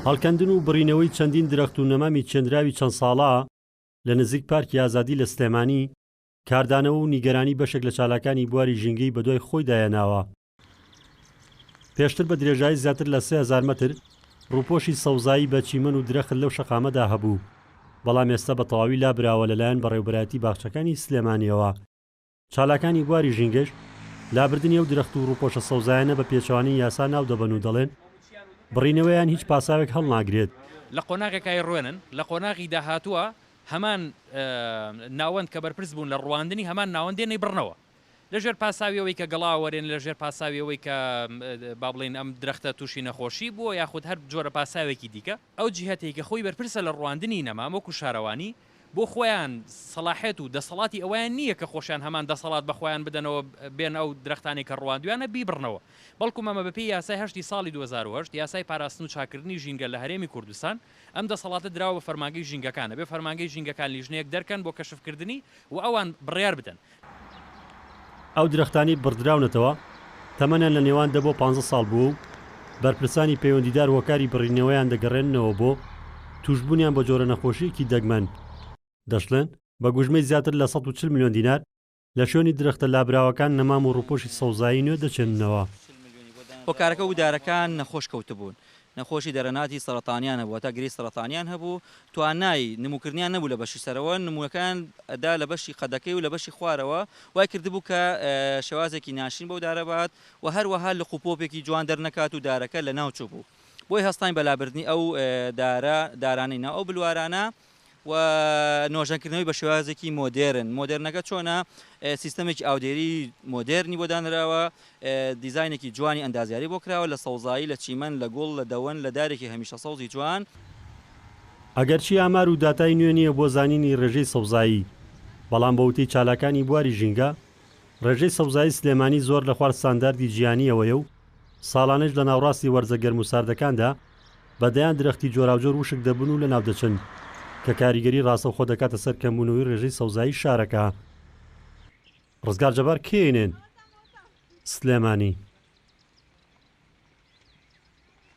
هەڵکەندن و بڕینەوەی چەندین درەخت و نەمامی چێندراوی چەند ساڵە لە نزیک پارکی ئازادی لە سلێمانی، کاردانەوە و نیگەرانی بەشێک لە چالاکانی بواری ژینگەی بەدوای خۆیدا هێناوە. پێشتر بە درێژایی زیاتر لە سێ هەزار مەتر، ڕووپۆشی سەوزایی بە چیمەن و درەخت لەو شەقامەدا هەبوو، بەڵام ئێستا بە تەواوی لابراوە لەلایەن بەڕێوبەرایەتی باخچەکانی سلێمانییەوە. چالاکانی بواری ژینگەش لابردنی ئەو درەخت و ڕووپۆشە سەوزایانە بە پێچەوانەی یاسا ناودەبەن و دەڵێن، بڕینەوەیان هیچ پاساوێک هەڵناگرێت. لە قۆناغێکە ئەیڕوێنن لە قۆناغی داهاتووە هەمان ناوەند کە بەرپرس بوون لە ڕوواندنی هەمان ناوەند دێن ئەیبڕنەوە لەژێر پاساوی ئەوەی کە گەڵا ئەوەرێن، لەژێر پاساوی ئەوەی کە با بڵێین ئەم درەختە تووشی نەخۆشی بووە یاخود هەر جۆرە پاساوێکی دیکە، ئەو جیهەتەی کە خۆی بەرپرسە لە ڕوواندنی نەمام وەکو شارەوانی، بۆ خۆیان سەڵاحێت و دەسەڵاتی ئەوەیان نییە کە خۆشیان هەمان دەسەڵات بە خۆیان بدەنەوە بێن ئەو درەختانەی کە ڕواندویانە بیبڕنەوە بەڵکوم ئەمە بەپێی یاسای هەشتی ساڵی دوو هەزار و هەشت یاسای پاراستن و چاککردنی ژینگە لە هەرێمی کوردستان ئەم دەسەڵاتە دراوە بە فەرمانگەی ژینگەکان ئەبێ فەرمانگەی ژینگەکان لیژنەیەک دەرکەن بۆ کەشفکردنی و ئەوان بڕیار بدەن ئەو درەختانەی بڕدراونەتەوە تەمەنیان لە نێوان دە بۆ پانزە ساڵ بووە و بەرپرسانی پەیوەندیدار هۆکاری بڕینەوەیان دەگەڕێننەوە بۆ تووشبوونیان بە جۆرە نەخۆشییەکی دەگمەن، دەشڵێن، بە گوژمەی زیاتر لە سەد و چل ملیۆن دینار لە شوێنی درەختە لابراوەکان نەمام و ڕووپۆشی سەوزایی نوێ دەچێننەوە. هۆکارەکە ودارەکان نەخۆش کەوتبوون، نەخۆشی دەرەناتی سەرەتانیان هەبوو، هەتا گرێی سەرەتانیان هەبوو، توانای نموکردنیان نەبوو لە بەشی سەرەوە، نموونەکەیان ئەدا لە بەشی قەدەکەی و لە بەشی خوارەوە، وای کردبوو کە شێوازێکی ناشرین بەو دارە بهات و هەروەها لق و پۆپێکی جوان دەرنەکات و دارەکە لەناو چووبوو، بۆیە هەستاین بە لابردنی ئەو دارە دارانەی ناو ئەو بلوارانە، و نۆژەنکردنەوەی بە شێوازێکی مۆدێرن، مۆدێرنەکە چۆنە؟ سیستەمێکی ئاودێری مۆدێرنی بۆ دانراوە، دیزاینێکی جوانی ئەندازیاری بۆ کراوە، لە سەوزایی، لە چیمەن، لە گوڵ، لە دەوەن، لە دارێکی هەمیشە سەوزی جوان. ئەگەرچی ئامار و داتای نوێ نییە بۆ زانینی ڕێژەی سەوزایی، بەڵام بە وتەی چالاکانی بواری ژینگە، ڕێژەی سەوزایی سلێمانی زۆر لە خوار ستانداردی جیهانییەوەیە و ساڵانێش لە ناوڕاستی وەرزە گەرم و ساردەکاندا بە دەیان درەختی جۆراوجۆر وشک دەبن و لەناودەچن، کە کاریگەری ڕاستەوخۆ دەکاتە سەر کەمبوونەوەی ڕێژەی سەوزایی شارەکە. ڕزگار جەبار، کەینێن، سلێمانی.